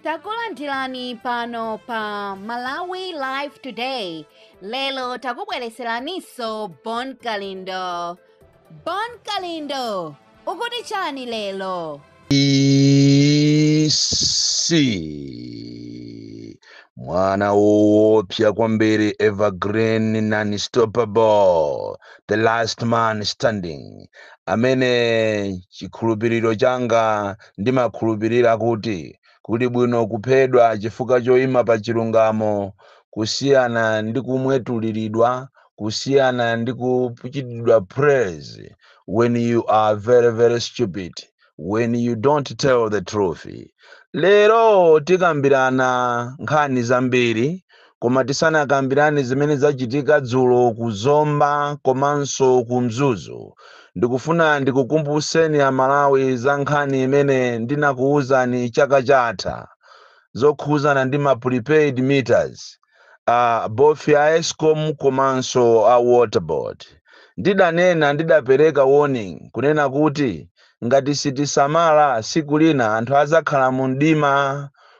takulandirani pano pa malawi live today lero takubwereseraninso bon kalindo bon kalindo ukuti chani lero isi mwana woopsa kwambiri evergreen non stoppable the last man standing amene chikhulupiriro changa Ndimakhulupirira kuti kuli bwino kuphedwa chifukwa choima pa chilungamo kusiyana ndi kumwetuliridwa, kusiyana ndi kuchitidwa praise when you are very very stupid, when you don't tell the truth. Lero tikambirana nkhani zambiri Koma tisanakambirane zimene zachitika dzulo ku Zomba komanso ku Mzuzu, ndikufuna ndikukumbutseni Amalawi za nkhani imene ndinakuuzani chaka chatha zokhudzana ndi ma prepaid meters a both a escom komanso a Water Board. Ndidanena, ndidapereka warning kunena kuti ngati sitisamala, tsiku lina anthu adzakhala mumdima.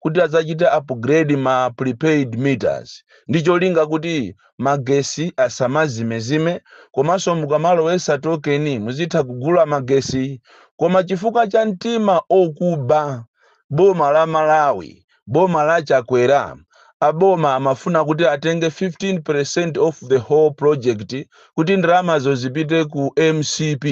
kuti adzachite upgrade ma prepaid meters ndi cholinga kuti magesi asamazimezime komanso mukamalowesa token muzitha kugula magesi koma chifukwa cha mtima okuba boma la Malawi boma la Chakwera aboma amafuna kuti atenge 15% of the whole project kuti ndalamazo zipite ku mcp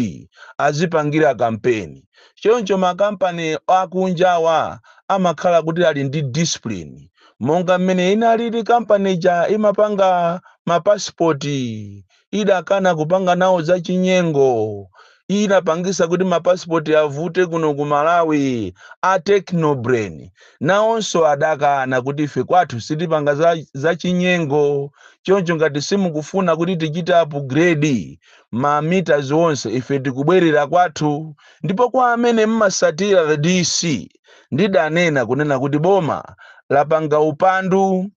azipangira kampeni Choncho makampani akunjawa amakhala kuti ali ndi discipline monga mmene inalili kampani ija imapanga mapasipoti idakana kupanga nawo za chinyengo inapangisa kuti mapasipoti avute kuno ku Malawi a Technobrain nawonso adakana kuti ife kwathu sitipanga za chinyengo choncho ngati simukufuna kuti tichite upgrade ma meters onse ife tikubwerera kwathu ndipo kwa amene mmasatira the DC ndidanena kunena kuti boma lapanga upandu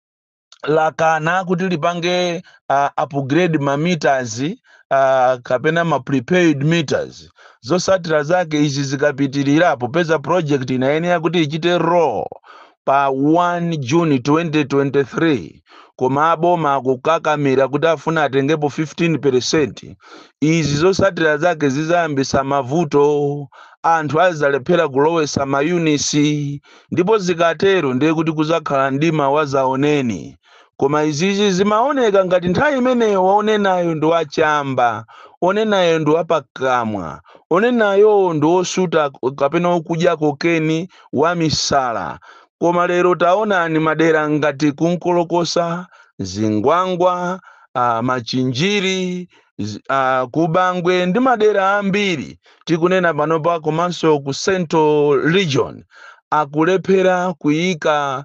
lakana kuti lipange uh, upgrade ma meters uh, kapena ma prepaid meters zosatira zake izi zikapitirira popeza project inayenera kuti ichite roll pa 1 June 2023 koma aboma akukakamira kuti afuna atengepo 15%. Izi zotsatira zake zizayambisa mavuto, anthu azalephera kulowesa ma units ndipo zikatero ndiye kuti kuzakhala mdima wazaoneni. Koma izizi zimaoneka ngati nthawi imeneyo onenayo ndi wa chamba, onenayo ndi wapakamwa, onenayo ndi osuta kapena okudya kokeni, wamisala. Koma lero taonani madera ngati ku Nkolokosa, Zingwangwa, a Machinjiri, zi- a, ku Bangwe ndi madera ambiri tikunena panopa komanso ku central region akulephera kuyika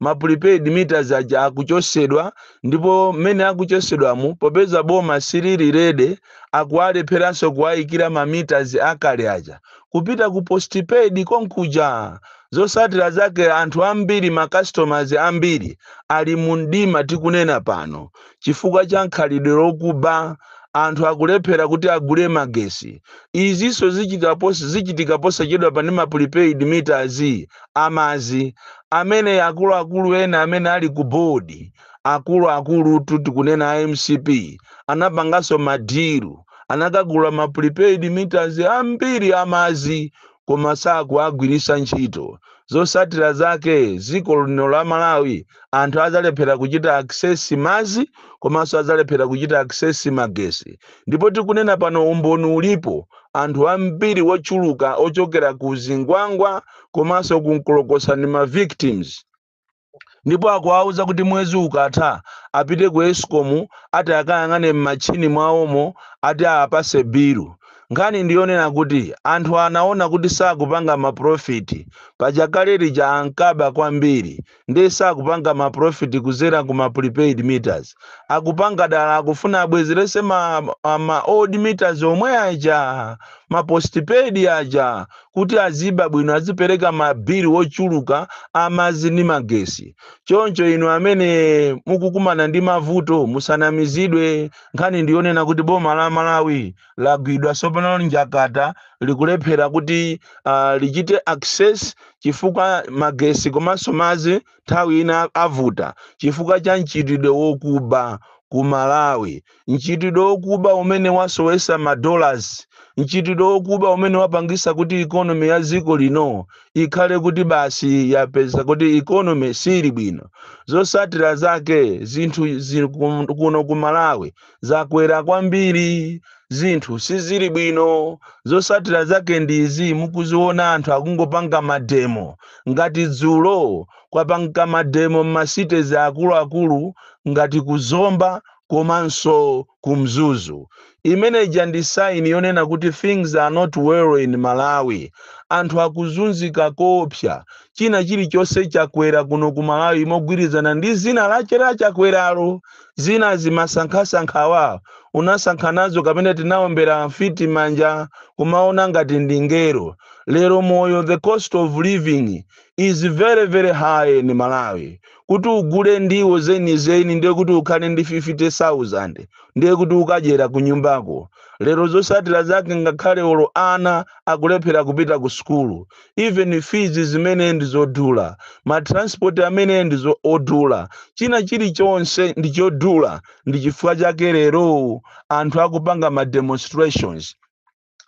ma prepaid meters aja akuchosedwa ndipo mmene akuchosedwamu popeza boma silili ready akuwalepheranso kuwayikira ma meters akale aja kupita ku postpaid konkuja zosatira zake anthu ambiri ma customers ambiri ali mu mdima tikunena pano chifukwa cha khalidwe lokuba anthu akulephera kuti agule magesi izinso zichitika pos- zichitika posachedwapa ndi ma prepaid meters amazi amene akuluakulu ena amene ali ku board akuluakulutu tikunena a mcp anapanganso madiru anakagula ma prepaid meters ambiri amazi koma sakuwagwiritsa ntchito. Zosatira zake dziko lino la Malawi anthu adzalephera kuchita access mazi komanso adzalephera kuchita access magesi. Ndipo tikunena pano umboni ulipo, anthu ambiri wochuluka ochokera ku Zingwangwa komanso ku Nkolokosa ndi ma victims. ndipo akuwauza kuti mwezi ukatha apite ku escom ati akayang'ane m'machini mwawomo ati awapase bilu nkhani ndiyonena kuti anthu anaona kuti sakupanga maprofiti paja kale lija ankaba kwambiri ndiye sakupanga maprofiti kuzera ku ma prepaid meters akupanga dala akufuna abwezerese ma, ma, ma old meters omwe aja ma postpaid aja kuti aziba bwino azipereka ma bill wochuluka amazi ndi magesi choncho inu amene mukukumana ndi mavuto musanamizidwe nkhani ndiyonena kuti boma la malawi lagwidwa sopano njakata likulephera kuti uh, lichite access chifukwa magesi komanso mazi nthawi ina avuta chifukwa cha mchitidwe wokuba ku malawi mchitidwe wokuba umene wasowesa ma dollars, mchitidwe wokuba umene wapangisa kuti economy ya dziko lino ikhale kuti basi yapeza kuti economy siili bwino. Zosatira zake zinthu zi- kum- kuno ku Malawi zakwera kwambiri, zinthu sizili bwino. Zosatira zake ndi izi, mukuziona anthu akungopanga mademo ngati dzulo kwapangika mademo m'ma cities akuluakulu ngati ku Zomba komanso ku mzuzu imene ija ndi sign yonena kuti things are not well in malawi anthu akuzunzika koopsa china chilichonse chakwera kuno ku malawi mogwirizana ndi dzina lache la chakweralo zina zimasankhasankhawa unasankha nazo kapena tinaombera mfiti manja kumaona ngati ndi ngelo lero moyo the cost of living is very very high in malawi Kuti ugule ndiwo zenizeni ndiye kuti ukhale ndi 50,000 ndiye kuti ukadyera kunyumbako. Lero zotsatira zake ngakhale olo ana akulephera kupita ku sukulu. Even fees zimene ndi zodula. Ma transport amene ndi odula. China chilichonse ndi chodula ndi chifukwa chake lero anthu akupanga ma demonstrations.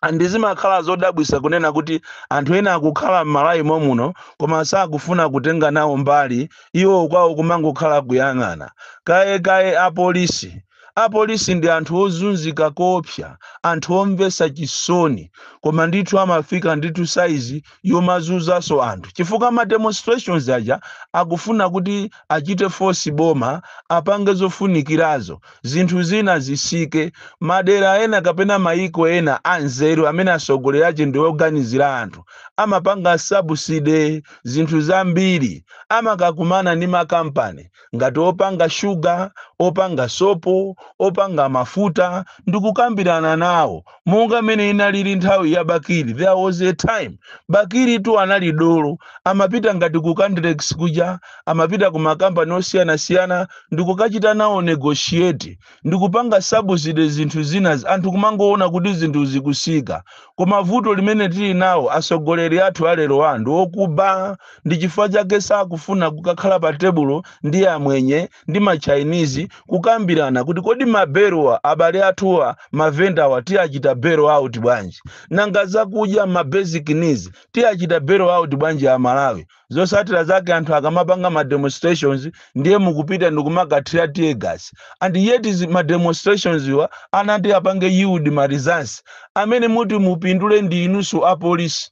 and zimakhala zodabwisa kunena kuti anthu ena akukhala m'malawi momuno koma sakufuna kutenga nawo mbali iwo kwawo kumangokhala kuyang'ana kaye kaye apolisi apolisi ndi anthu ozunzika koopsa anthu omvesa chisoni koma ndithu amafika ndithu saizi yomazunzanso anthu chifukwa ma demonstrations aja akufuna kuti achite force boma apange zofunikirazo zinthu zina zisike madera ena kapena mayiko ena anzeru amene atsogoleri ache ndi oganizira anthu amapanga subsidy zinthu zambiri amakakumana ndi makampani ngati opanga sugar, opanga sopo, opanga mafuta, ndi kukambirana nawo, monga mmene inalili nthawi ya Bakili. There was a time Bakilitu anali dolo, amapita ngati ku Candlex kuja, amapita ku makampani osiyanasiyana ndi kukachita nawo negotiate. ndikupanga subsidy zinthu zina anthu kumangoona kuti zinthu zikusika koma vuto limene tili nawo asogoleri athu alero anthu okuba ndi chifukwa chake sakufuna kukakhala pa tebulo ndi amwenye ndi ma chinese kukambirana kuti kodi ma belowa abale athuwa mavendawa tiwachita bail out bwanji nanga zakudya ma basic needs tiwachita bail out bwanji amalawi zosatira zake anthu akamapanga ma demonstrations ndiye mukupita ndikumakathira tear gas and yet izi ma demonstrations wa anati apange yield ma results amene muti mupindule ndi inuso apolisi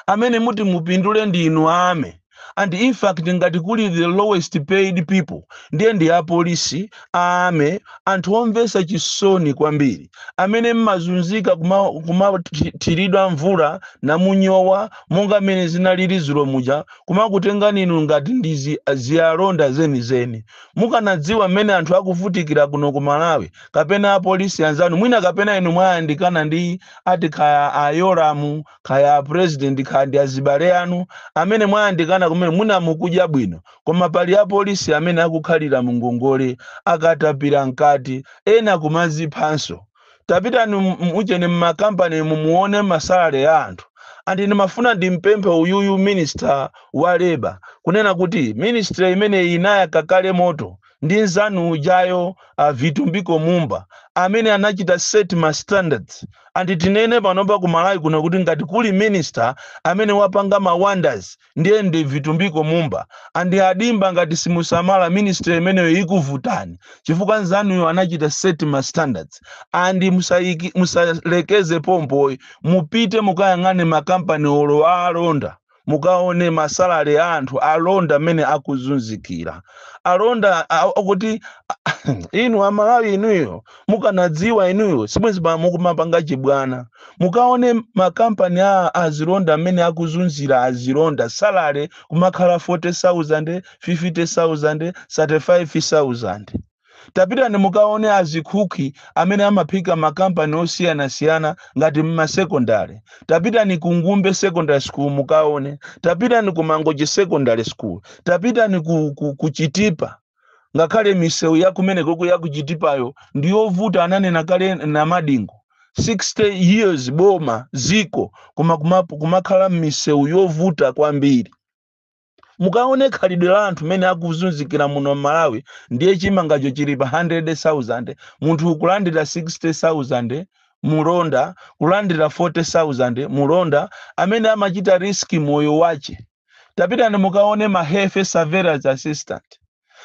amene muti mupindule ndi inu a army and in fact ngati kuli the lowest paid people ndiye ndi apolisi A army, anthu omvetsa chisoni kwambiri amene mmazunzika kumathiridwa mvula namunyowa monga mmene zinalili dzulo muja kumakutengani inu ngati ndi zialonda zenizeni. Mukanadziwa mmene anthu akuvutikira kuno ku Malawi kapena apolisi anzanu mwina kapena inu mwayandikana ndi ati kaya a Yolamu kaya a President kaya ndi azibale anu amene mwayandikana kumene mwina mukudya bwino Koma pali apolisi amene akukhalira mu ngongole akatapira mkati, ena kumaziphanso. Tapitani mu ujeni mma company mumuone ma salary ya anthu. And ndimafuna ndimpemphe uyuyu minister wa labour kunena kuti ministry imeneyi inayaka kale moto ndi mnzanu ujayo a Vitumbiko Mumba amene anachita set ma standards. And tinene panopa ku Malawi kuno kuti ngati kuli minister amene wapanga ma wonders ndiye ndi Vitumbiko Mumba and a Dimba ngati simusamala ministry imeneyo ikuvutani chifukwa anzanuyo anachita set ma standards and musaiki- musalekeze pompoyi mupite mukayang'ane makampani olo a alonda mukaone masalale a anthu alonda mmene akuzunzikira alonda a- a- akuti inu amalawi inuyo mukanadziwa inuyo sibwenzi pano mukumapanga chibwana. Mukaone ma company a azilonda mmene akuzunzira azilonda salary kumakhala 40,000, 50,000, 35,000. Tapitani mukaone azikuki amene amaphika mma company osiyanasiyana ngati mma secondary. Tapitani ku Ngumbe Secondary School mukaone. Tapitani ku Mangochi Secondary School. Tapitani ku, ku, ku Chitipa. ngakhale misewu ya kumenekoku ya ku Chitipayo ndi yovuta ananena kale Namadingo 60 years boma dziko koma kuma- kumakhala m'misewu yovuta kwambiri mukaone khalidwe la anthu mene akuzunzikira muno m'malawi ndiye chimangacho chili pa 100000 munthu kulandira 60000 mulonda kulandira 40000 mulonda amene amachita riski moyo wache tapitani mukaone ma health surveillance assistant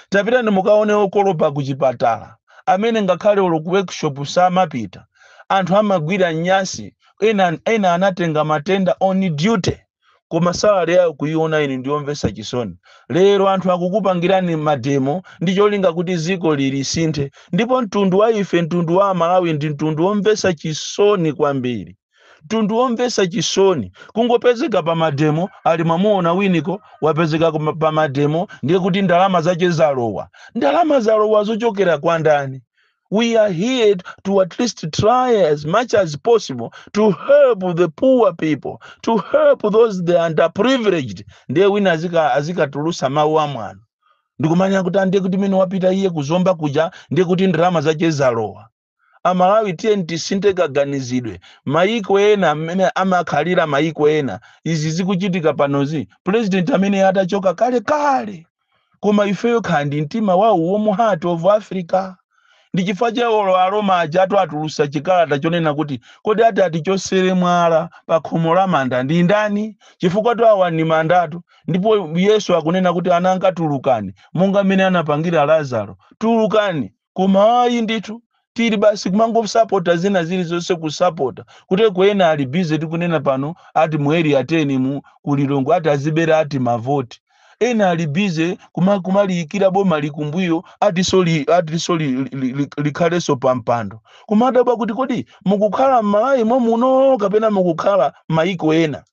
tapitani mukaone okolopa ku chipatala amene ngakhale olo ku workshop samapita anthu amagwira nyasi ena, ena anatenga matenda on duty koma salary yawo kuiona ine ndiyomvesa chisoni lero anthu akukupangirani mademo ndi cholinga kuti dziko lili lisinthe ndipo mtundu wa ife mtundu wa amalawi ndi mtundu womvesa chisoni kwambiri mtundu womvetsa chisoni kungopezeka pa mademo ali mwamuona winiko wapezeka kuma- pa mademo ndiye kuti ndalama zache zalowa ndalama zalowa zochokera kwa ndani we are here to at least try as much as possible to help the poor people to help those the underprivileged ndiye wina azika- azikatulusa mawu amwano ndikumanena kuti a ndiye kuti mene wapita iye ku Zomba kuja ndiye kuti ndalama zache zalowa amalawi tiyeni tisinthe kaganizidwe mayiko ena mmene amakhalira mayiko ena izi zikuchitika panozi president bwenzi atachoka kale kale koma ifeyo kukhala ndi mtima wa warm heart of africa ndi chifukwa chake olo aroma ajatu atulusa chikalata chonena kuti kodi ati atichosere mwala pa khomo la manda ndi ndani chifukwatu awa ni mandatu ndipo yesu akunena kuti ananga tulukani monga mmene anapangira lazaro tulukani koma ayi ndithu tili basi kumangosapota zina zilizonse kusapota kuti eko ena ali busy tikunena pano ati mu area 10 mu ku Lilongwe ati azibera ati mavoti ena ali busy kuma- kumaliyikira bomali kumbuyo atiso li- atiso li- li- li- likhalenso pampando kumadabwa kuti kodi mukukhala m'malawi momuno kapena mukukhala mayiko ena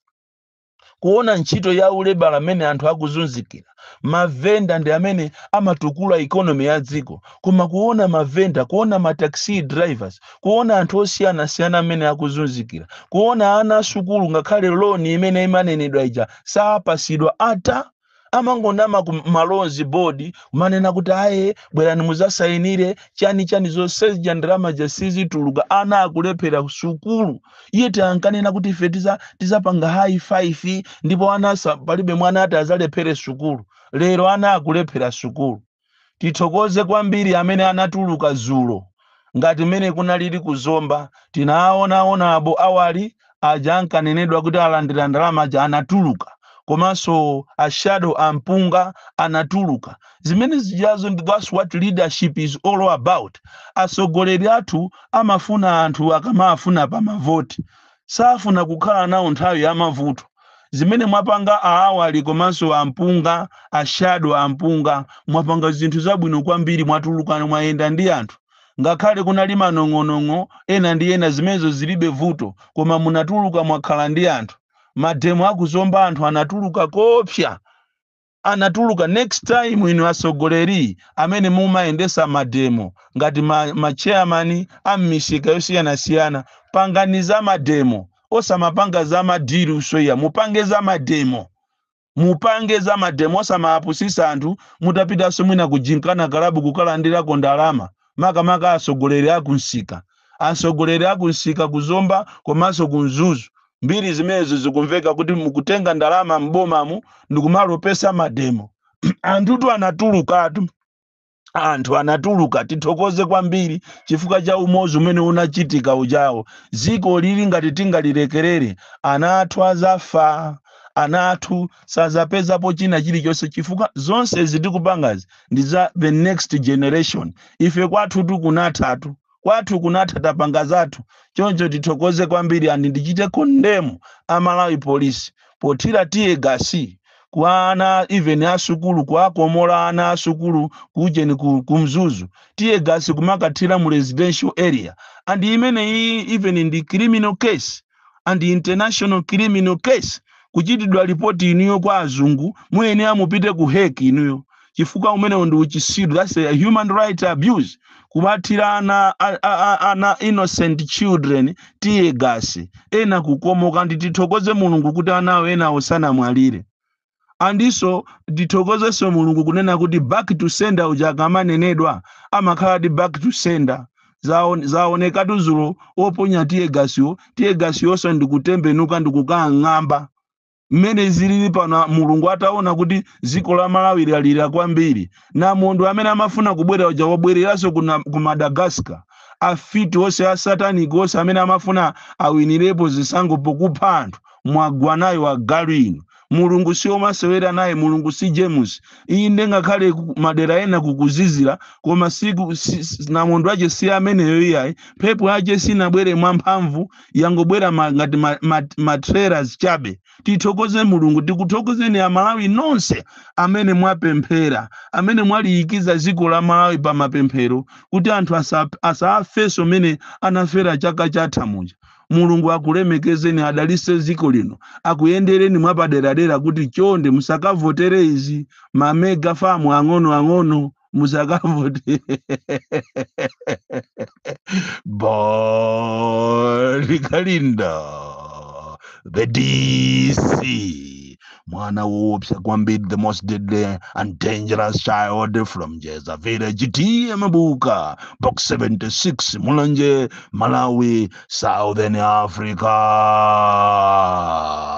kuona ntchito ya ulebala mmene anthu akuzunzikira mavenda ndi amene amatukula ikonomi ya dziko koma kuona mavenda kuona mataxi drivers kuona anthu osiyanasiyana mmene akuzunzikira kuona ana asukulu ngakhale loni imene imanenedwa ija sapasidwa ata amangonama ku ma loans board kumanena kuti aye bwerani muzasayinire chani chani zonsezija ndalama ija sizituluka ana akulephera sukulu yet ankanena kuti ife tiza- tizapanga hayi 5 ndipo ana asa- palibe mwana ati azalephere sukulu lero ana akulephera sukulu Tithokoze kwambiri amene anatuluka zulo ngati mmene kunalili ku Zomba tinaawona honourable Awali aja ankanenedwa kuti alandira ndalama aja anatuluka komanso a shadow a Mpunga anatuluka zimene zijazo ndi that's what leadership is all about atsogoleri athu amafuna anthu akamaafuna pa mavoti safuna kukhala nawo nthawi ya mavuto zimene mwapanga a Awali komanso a Mpunga a shadow a Mpunga mwapanga zinthu zabwino kwambiri mwatuluka mwayenda ndi anthu ngakhale kunali manong'onong'o ena ndi ena zimenezo zilibe vuto koma munatuluka mwakhala ndi anthu mademo a ku Zomba anthu anatuluka koopsa anatuluka next time inu asogoleri amene mumayendesa mademo ngati ma, ma chairman a m'misika yosiyanasiyana pangani za mademo osamapanga za madilu soya mupange za mademo mupange za mademo osamapusisa anthu mutapitanso mwina ku Gymkhana kalabu kukalandirako ndalama makamaka atsogoleri a ku msika atsogoleri a ku msika ku zomba komanso ku mzuzu mbiri zimenezo zikumveka kuti mukutenga ndalama m'bomamu ndikumalopesa mademo anthutu anatulukatu anthu anatuluka tithokoze kwambiri chifukwa cha umodzi umene unachitika ujawo dzikoli ili ngati tingalilekerere ana athu azafa ana athu sazapezapo china chilichonse chifukwa zonse zi tikupangazi ndi za the next generation ife kwathu kunathatu kwathu kunatha tapanga zathu choncho tithokoze kwambiri andi ndichite kondemu a malawi polisi pothira tear gas kwa ana even asukulu kuakomola ana asukulu kujeni ku, ku mzuzu tear gas kumakathira mu residential area and imene iyi even ndi criminal case and international criminal case kuchitidwa lipoti inuyo kwa azungu muyenera mupite ku Hague inuyo chifukwa umenewo ndi uchisiru that's a human right abuse kumathira ana a- a- a- ana innocent children tear gas ena kukomoka ndi tithokoze mulungu kuti anawo ena osamwalira andiso tithokozenso mulungu kunena kuti back to sender uja akamanenedwa amakhaladi back to sender Zaon- zaonekatu dzulo oponya tear gas-wo tear gas-yonso ndikutembenuka ndikukang'amba mmene zilili pano mulungu ataona kuti dziko la malawi lalira kwambiri namondwe amene amafuna kubwera uja wabwereranso ku na- ku madagascar afiti onse asataniki onse amene amafuna awinirepo zisankho pokupha anthu mwagwanayo agalu inu mulungu si omasewera naye mulungu si james iyi nde ngakhale ku- madera ena kukuzizira koma siku si, si- namondwe wake si ameneyo iyayi mphepo yake sinabwere mwamphamvu yangobwera ma, ngati ma, ma, ma trailers chabe tithokoze mulungu tikuthokozeni amalawi nonse amene mwapemphera amene mwaliikiza dziko la malawi pa mapemphero kuti anthu asa- asafenso mene anafera chaka chatha muja Mulungu akulemekezeni adalise ziko lino akuyendereni mwapaderadera kuti chonde musakavotere izi ma mega farm ang'onoang'ono musakavote Bon Kalindo the DC mwana woopsa kwambiri the most deadly and dangerous child from jeza village tiye mabuka box 76 mulanje malawi southern africa